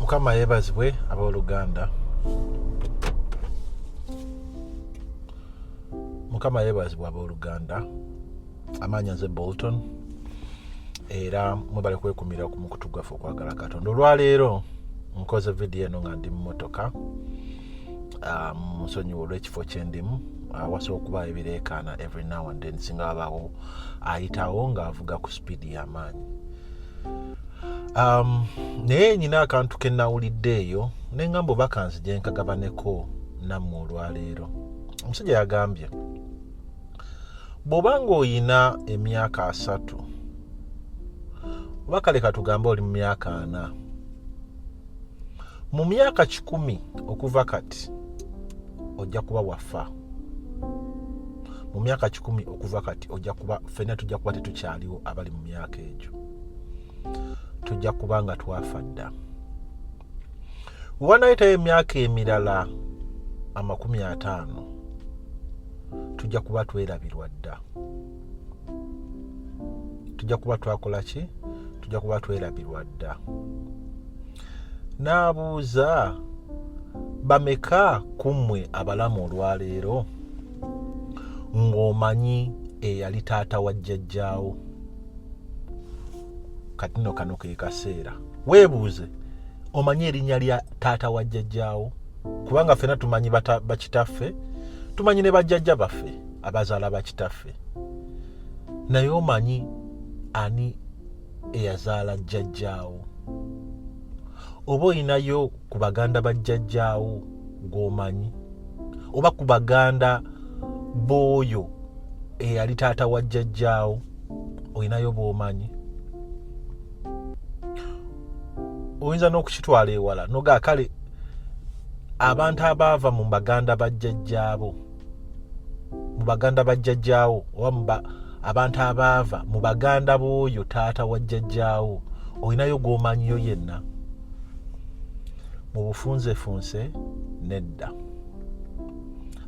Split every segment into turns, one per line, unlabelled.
mukama yebazibwe aboluganda mukama yebazibwe aboluganda amaanya nze bolton era mwebale kwekumira ku mukutu gwaffe okwagala katonda olwaleero nkoze vidiyo eno nga ndi mumotoka ah, musonyiwa olwekifo kyendimu awasa ah, okuba ebireekaana every now and then singa abaawo ayitawo ng'avuga ku sipiidi y'amaanyi um, naye nyina akantu ke nawulidde eyo nengamba oba kanzije nkagabaneko nammwe olwaleero omusajja yagambye bw'oba ng'oyina emyaka asatu oba kale katugambe oli mu myaka ana mu myaka kikumi okuva kati ojja kuba wafa mu myaka kikumi okuva kati ojja kuba fenna tujja kuba tetukyaliwo abali mu myaka egyo tujja kuba nga twafa dda wewanayitayo emyaka emirala amakumi ataano tujja kuba twerabirwa dda tujja kuba twakola ki tujja kuba twerabirwa dda n'abuuza bameka ku mmwe abalamu olwaleero ng'omanyi eyali taata wa jjajjaawo kati no kano ke kaseera weebuuze omanyi erinnya lya taata wa jjajjaawo kubanga ffena tumanyi bakitaffe tumanyi ne bajjajja baffe abazaala bakitaffe naye omanyi ani eyazaala jjajjaawo oba olinayo ku baganda ba jjajjaawo gwomanyi oba ku baganda booyo eyali taata wa jjajjaawo olinayo bwomanyi oyinza n'okukitwala ewala noga kale abantu abaava mu baganda ba jjajjaabo mu baganda ba jjajjaawo oba muba abantu abaava mu baganda b'oyo taata wa jjajjaawo olinayo gwomanyiyo yenna mu bufunzefunse nedda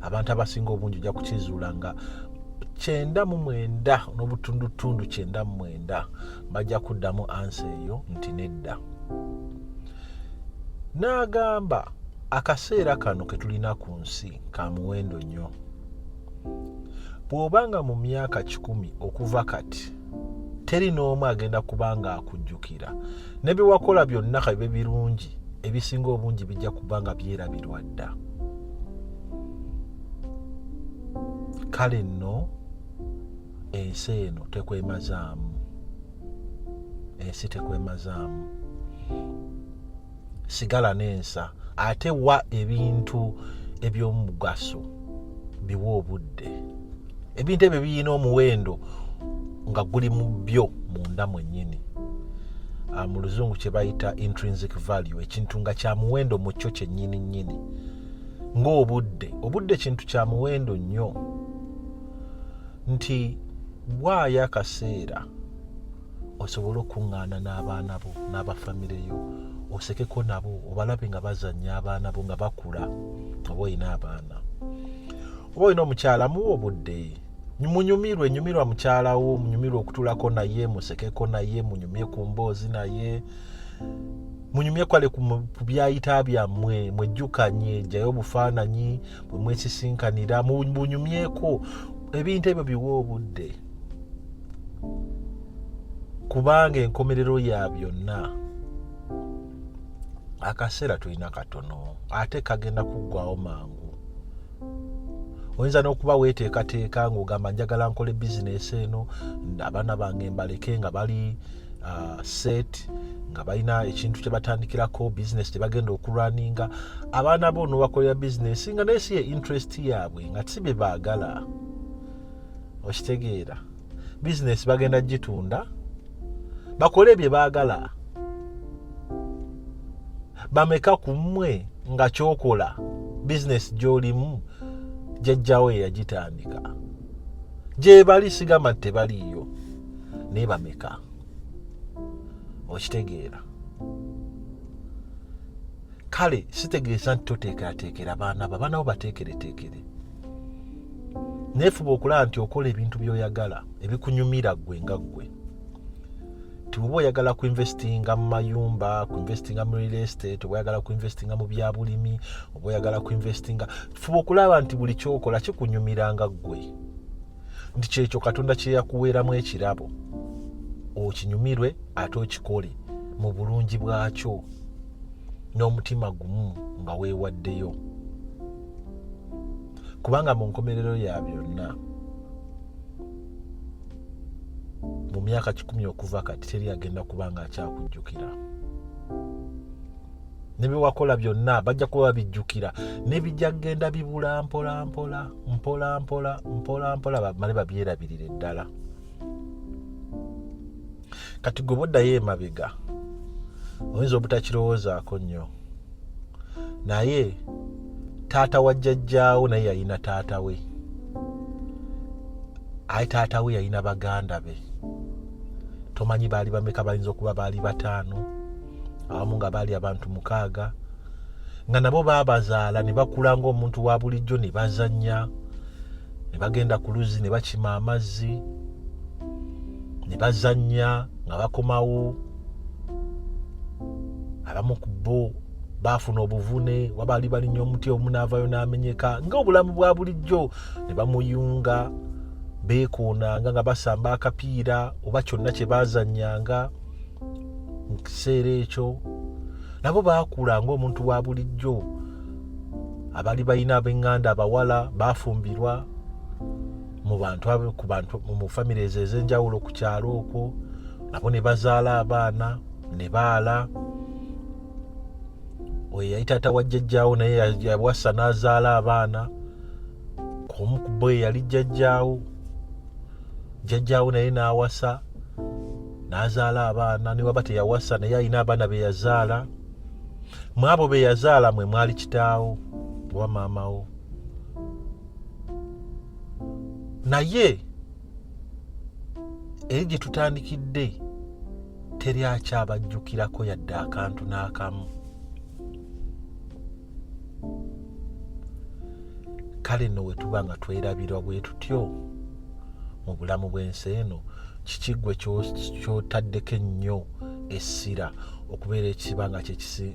abantu abasinga obungi ojja kukizuula nga kyenda mu mwenda n'obutundutundu kyenda mu mwenda bajja kuddamu ansa eyo nti nedda n'agamba akaseera kano ke tulina ku nsi ka muwendo nnyo bw'oba nga mu myaka kikumi okuva kati teri n'omu agenda kuba nga akujjukira ne bye wakola byonna kabibe birungi ebisinga obungi bijja kuba nga byerabirwa dda kale nno ensi eno tekwemazaamu ensi tekwemazaamu sigala n'ensa ate wa ebintu ebyomugaso biwa obudde ebintu ebyo birina omuwendo nga guli mu byo munda mwennyini ah, mu luzungu kye bayita intrinsic value ekintu nga kya muwendo mu kyo kyennyini nnyini ng'obudde obudde kintu kya muwendo nnyo nti waayo akaseera osobole okukuŋŋaana n'abaana bo n'abafamire yo osekeko nabo obalabe nga bazannya abaana bo nga bakula oba olina abaana oba olina omukyala muwa obudde munyumirwe nyumirwa mukyala wo munyumirwe okutulako naye musekeko naye munyumye ku mboozi naye munyumye kwale ku byayita byammwe mwejjukanye jjayo obufaananyi bwe mwesisinkanira mubunyumyeko ebintu ebyo biwa obudde kubanga enkomerero ya byonna akaseera tulina katono ate kagenda kuggwawo mangu oyinza n'okuba weeteekateeka ng'ogamba njagala nkole bizinesi eno abaana bange mbaleke nga bali uh, set nga balina ekintu kyebatandikirako business kyebagenda okulwaninga abaana bo nobakolera business nga naye si ye interest yaabwe nga si bye baagala okitegeera business bagenda gitunda bakole bye baagala bameka ku mmwe nga kyokola business gyolimu jajjawo eyagitandika gyebali sigamba tebaliiyo naye bameka okitegeera kale sitegeeza nti toteekerateekera baana bo abaana bo bateekereteekere neefuba okulaba nti okola ebintu byoyagala ebikunyumira ggwe nga ggwe tiwoba oyagala kuinvestinga mu mayumba kuinvestinga mu real estate oba oyagala kuinvestinga mu byabulimi oba oyagala kuinvestinga fuba okulaba nti buli kyokola kikunyumiranga ggwe nti kyekyo katonda kyeyakuweeramu ekirabo okinyumirwe ate okikole mu bulungi bwakyo n'omutima gumu nga weewaddeyo kubanga mu nkomerero ya byonna mu myaka kikumi okuva kati teri agenda kuba nga akyakujjukira ne bye wakola byonna bajja kuba babijjukira nebijja kugenda bibula mpola mpola mpola mpola mpola mpola bamale babyerabirire ddala kati gwe boddayo emabega oyinza obutakirowoozaako nnyo naye taata wa jjajjaawo naye yalina taata we aye taata we yalina baganda be tomanyi baali bameka bayinza okuba baali bataano abamu nga baali abantu mukaaga nga nabo baabazaala ne bakula ng'omuntu wa bulijjo ne bazannya ne bagenda ku luzzi ne bakima amazzi ne bazannya nga bakomawo abamu ku bo baafuna obuvune wabaali balinya omuti omunaavayo n'amenyeka ng'obulamu bwa bulijjo ne bamuyunga beekoonanga nga basamba akapiira oba kyonna kye baazannyanga mu kiseera ekyo nabo baakula ngaomuntu wa bulijjo abali balina abenganda abawala bafumbirwa mu bantu ku bantu mu famire ezo ez'enjawulo ku kyalo okwo nabo ne bazaala abaana ne baala oyo yali taata wa jjajjaawo naye yawasa n'azaala abaana omu ku bo eyali jjajjaawo jjajjaawo naye n'awasa n'azaala abaana ne waba teyawasa naye alina abaana be yazaala mu abo be yazaala mwe mwali kitaawo oba maamawo naye eri gye tutandikidde teri akyabajjukirako yadde akantu n'akamu kale nno bwe tuba nga twerabirwa bwe tutyo mu bulamu bw'ensi eno kiki gwe kyotaddeko ennyo essira okubeera ekiba nga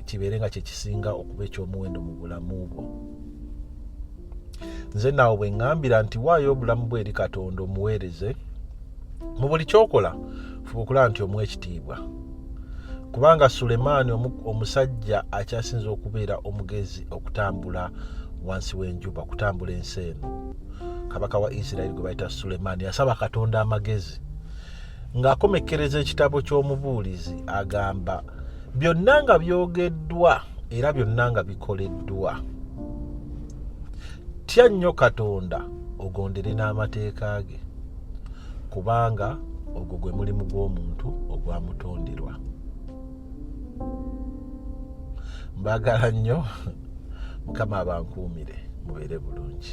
kibeere nga kyekisinga okuba ekyomuwendo mu bulamu bwo nze naawe bwe ŋŋambira nti waayo obulamu bwe eri katonda omuweereze mu buli kyokola fuba okulaba nti omuwa ekitiibwa kubanga sulemaani omusajja akyasinza okubeera omugezi okutambula wansi w'enjuba okutambula ensi eno kabaka wa isirairi gwe bayita sulemaani yasaba katonda amagezi ng'akomekkereza ekitabo ky'omubuulizi agamba byonna nga byogeddwa era byonna nga bikoleddwa tya nnyo katonda ogondere n'amateeka ge kubanga ogwo gwe mulimu gw'omuntu ogwamutonderwa mbagala nnyo mukama abankuumire mubeere bulungi